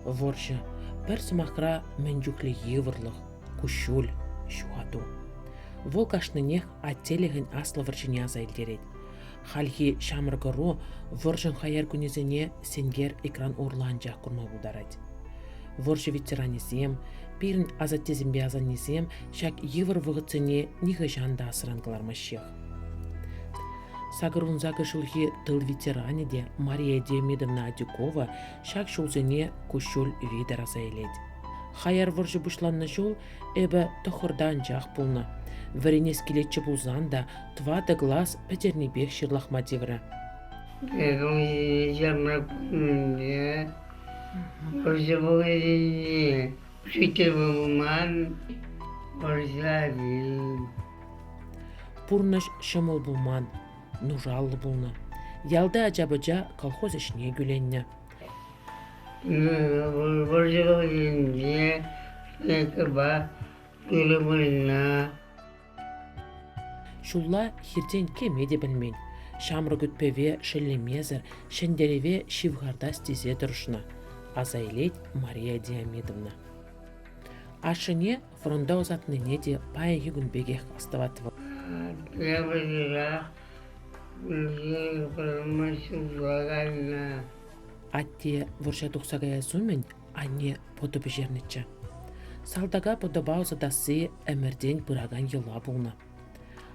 Вӑрҫӑ пӗр сӑмахра мӗн чухлӗ йывӑрлӑх, куҫҫуль, ҫухату. Вӑл кашнинех аттелӗхӗн аслӑ вӑрҫине аса илтерет. Хальхи ҫамрӑк ӑру вӑрҫӑн хаяр кунӗсене сенкер экран урлӑ анчах курма пултарать. Вӑрҫӑ ветеранӗсем, пирӗн асаттесемпе асаннесем ҫак йывӑр вӑхӑтсене нихӑҫан та асран кӑлармаҫҫех. Сакӑр вунсакӑр ҫулхи тыл ветеранӗ те Мария Диомидовна Адюкова ҫак ҫулсене куҫҫуль витӗр аса илет. Хаяр вӑрҫӑ пуҫланнӑ ҫул эпӗ тӑхӑрта анчах пулнӑ. Вӗренес килетчӗ пулсан та тӑватӑ класс пӗтернипех ҫырлахма тиврӗ. Эпӗ ҫарма пулнине, вӑрҫӑ пулнине, учитель пулман, вӑрҫа вил. Пурнӑҫ ҫӑмӑл пулман, нушаллӑ пулнӑ. Ялти ача-пӑча колхоз ӗҫне кӳленнӗ. Вӑрҫӑ вӑхӑтӗнче Лескӑпа Пӳлӗмырина Ҫулла хиртен кӗме те пӗлмен. Ҫамрӑк ӳт-пӗве шеллемесӗр, ҫӗнтерӗве ҫывхартас тесе тӑрӑшнӑ, аса илет Мария Диамидовна. Ашшӗне фронта ӑсатнине те пайӗ юкӑн пекех астӑвать вӑл. Эпӗ часах вырма ҫырла кайнӑ. Атте вӑрҫа тухса каяс умӗн анне пӑтӑ пӗҫернӗччӗ. Салтака пӑтӑпа ӑсатасси ӗмӗртен пыракан йӑла пулнӑ.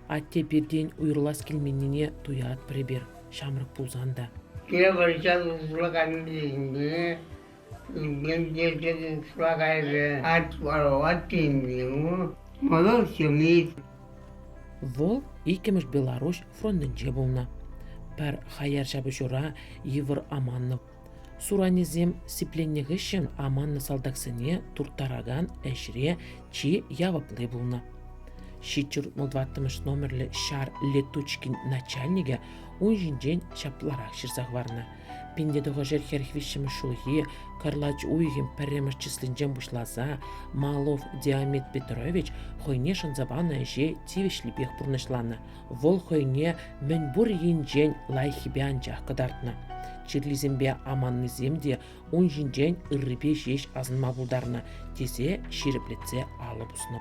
Атте пиртен уйрӑлас килменнине туятпӑр эпир, ҫамрӑк пулсан та. Те вӑрҫа тухса кайнисене Шла кайрӗ, атварӑлать тенӗ. Мӑнур ҫемйи. Вӑл иккӗмӗш Беларуҫ фронтӗнче пулнӑ. Пӗр хаяр ҫапӑҫура йывӑр аманнӑ. Суранӗсем сипленнӗ хыҫҫӑн аманнӑ салтаксене турттаракан ӗҫре чи явапли пулнӑ. Ҫичҫӗр ваттӑмӗш номерлӗ ҫар летучкин начальникӗ ун ҫинчен ҫапларах ҫырса хӑварнӑ. Пин те тӑхӑршер хӗрӗх виҫҫӗмӗш ҫулхи кӑрлач уйӑхӗн пӗрремӗш числинчен пуҫласа Малов Диамет Петрович хӑйне шанса панӑ ӗҫе тивӗҫлипех пурнӑҫланӑ. Вӑл хӑйне мӗнпур енчен лайӑххипе анчах кӑтартнӑ. Чирлисемпе аманнисем те ун ҫинчен ыррипе ҫеҫ асӑнма пултарнӑ, тесе ҫирӗплетсе алӑ пуснӑ.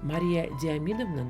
Мария Диамидовнан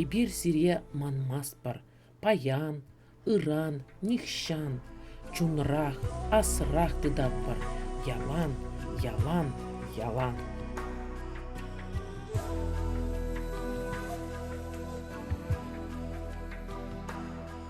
Эпир сире манмастпӑр паян, ыран, нихҫан, чунрах, асрах тытатпӑр ялан, ялан, ялан.